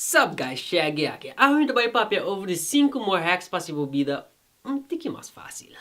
Sup guys Shaggy aki. Awe mi ta bai papia over di sinku more hacks pa si bo bida un tiki mas facil.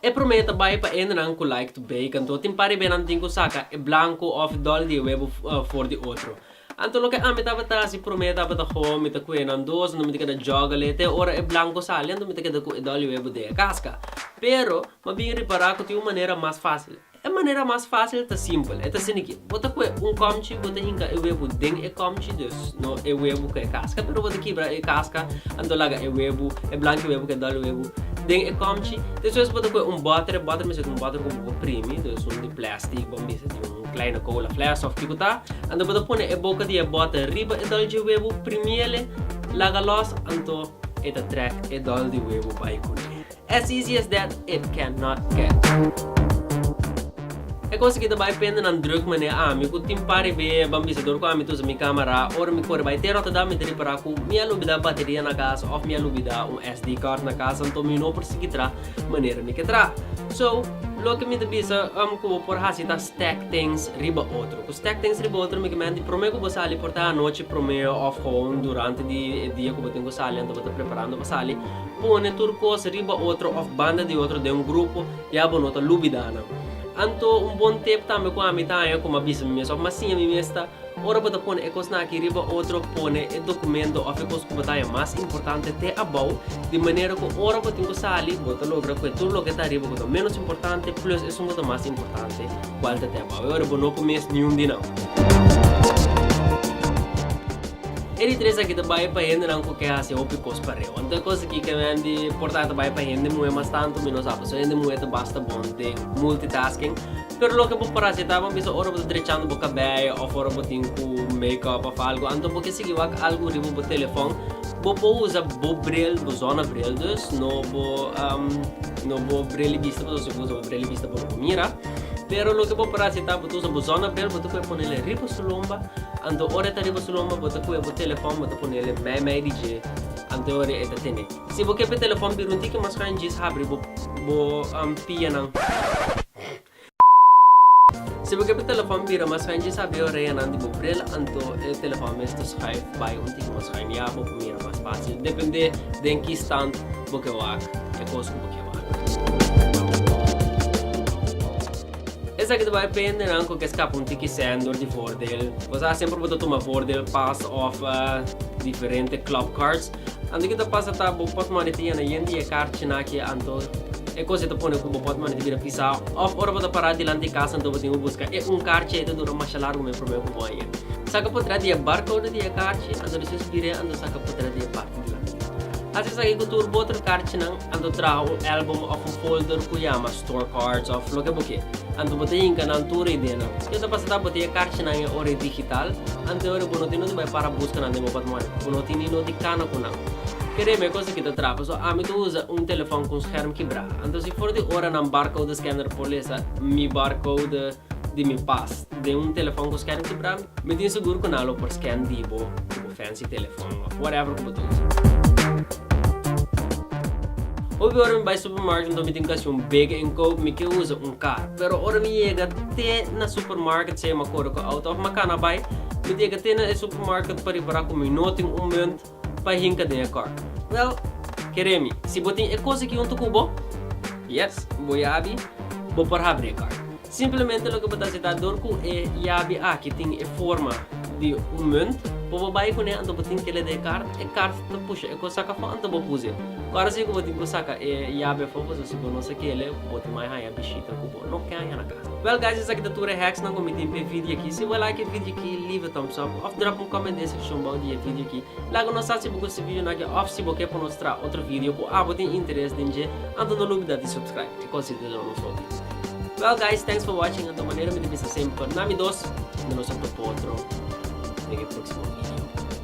E prome ta bai pa endenan cu like to bey kantoor tin par di benan tin cu saca e blanco of e dol di e webo for di otro. Anto loke ami tabata haci prome tabata gewoon mi ta cue nan dos anto mi ta keda juggle te ora e blanco sali anto mi ta keda cu e dol di webo dea casca. Pero ma bin ripara cu tin un manera mas facil. E manera mas fásil ta simpel. E ta asiniquí. Bo ta coe un comchi, bo ta hinca e webo den e comchi, dus, no e webo cu e casca, pero bo ta kibra e casca, anto laga e webo, e blanki webo cu e dòl webo, den e comchi. Despues bo ta coe un bòter, e bòter mester ta un bòter cu bo por primi, dus un di plastic, bo mester tin un kleine cola fles of kico ta, anto bo ta pone e boca di e bòter riba e dòl dje webo, primi ele, laga los, anto e ta trek e dòl di webo bai cun'e. As easy as that, it can not get. E cosa ki ta bai pende nan druk manera ami ku tin par riba e bambisador ku ami ta usa mi kama ra ora mi kore bai te Rotterdam mi ta ripara ku mi a lubida bateria na kas of mi a lubida un SD card na kas anto mi no por sigui tra manera mi ke tra. So, loke mi ta bisa ku bo por hasi ta stack things riba otro. Ku stack things riba otro mi kmen di prome ku bo sali por ta anochi prome of gewoon durante di e dia ku bo tin ku sali anto bo ta preparando pa sali. Pone tur kos riba otro òf banda di otro den un grupo, ya bo no ta lubidá nan. Anto un bon tip tambe ku ami ta haña ku m'a bisa mi mes òf m'a siña mi mes ta, ora bo ta pone e kosnan akí riba otro, pone e dokumento òf e kos ku bo ta haña mas importante te abou, di manera ku ora bo tin ku sali, bo ta logra kue tur loke ta ariba ku ta ménos importante plus esun ku ta mas importante kual ta te abou. E ora bo no ku mes niun di nan. E di tres aki ta bai pa hendenan cu ke haci hopi cos pa reu. Anto e cos aki ke men di porta ta bai pa hende muhe mas tanto mi no sa paso hende muhe ta basta bon den multitasking. Pero loke bo por haci ta bo bisa ora bo ta drechando bo cabello of ora bo tin cu make up of algo anto bo ke sigui wak algo riba bo telefon bo por usa bo bril bo zona bril. Dus no bo no bo bril di bista paso si bo usa bo bril di bista bo no por mira. Pero loke bo para si ta bo ta usa bo zona bel bo ta kue ponele riba su lomba anto ora e ta riba su lomba bo ta kue bo telefon bo ta ponele mei mei di dje anto ora e ta tene si bo ke pa e telefon bira un tiki mas kan djis habri bo bo pianan si bo ke pa e telefon bira mas kan djis habri e oreanan di bo bril anto e telefon mes ta schuif bai un tiki mas schuin ya bo mira mas facil depende den ki stand bo ke wak e kos ku bo ke. Esaki ta bai pende nan cu ke scapa un tiki sender di voordeel. Bo sa semper bo ta tuma voordeel pass of diferente club cards. Anto ke ta pasa ta bo portmone ta yena yen di e carchi nan aki anto e cos ei ta pone cu bo portmone ta bira pisa of ora bo ta para dilanti e casa anto bo tin cu busca e un carchi ei ta dura masha largo me prome cu bo a yen saca por dra di e barcode di e carchi anto despues bira anto saca por dra di e parti dilanti. Haci esaki cu tur bo otro carchi nan. Anto traha un album of un folder cu yama Store Cards of loke bo kier. Anto bo ta yinca nan tur e ideanan. Yo ta pasa ta bo tin e carchinan e ora e digital. Anteor e bo no tin noti bay para busca nan den opat moeda. Bo no tin ni noti cana cu nan. Kere me cos aki ta traha pasobra ami ta usa un telefon cu un scherm kibra. Anto si for di ora nan barcode scanner por lesa mi barcode di mi pas den un telefon cu scherm kibra mi tin segur cu nan lo por scan di bo. Fancy telefòn of whatever ku bo ta usa. Hopi ora mi bai supermarket anto mi tin kasi un bega en koop mi ke usa un kar. Pero ora mi yega te na supermarket sea m'a kore ku outo of m'a kana bai, mi ta yega te na e supermarket pa ripará ku mi no tin un munt pa hinka den e kar. Wèl, kere mi, si bo tin e kos aki huntu ku bo, yes, bo yabi, bo por habri e kar. Simplemente loke bo ta hasi ta dor ku e yabi aki tin e forma di un munt, bo bo bai kune anto bo tin ke leda e kart, e kart ta pusha e kos sak afo anto bo pusi e. Ku aros ei ku bo tin ku saka e yabi afo pasobra si bo no sa kele bo tin mai haña bishita ku bo no ke haña na ka. Bel guys esaki ta tur e hacksnan ku mi tin p'e video aki. Si bo a like e video aki leave a thumbs up of drop un comment den sekshon bou di e video aki. Laga nos sa si bo gusta e videonan aki of si bo ke por nos traha otro video ku abo tin interes den dje anto no lubida di subscribe. Kosi ta duna nosotros. Well guys, thanks for watching anto manera mi ta bisa semper na mi dos, nos a topa otro den e proksimo video.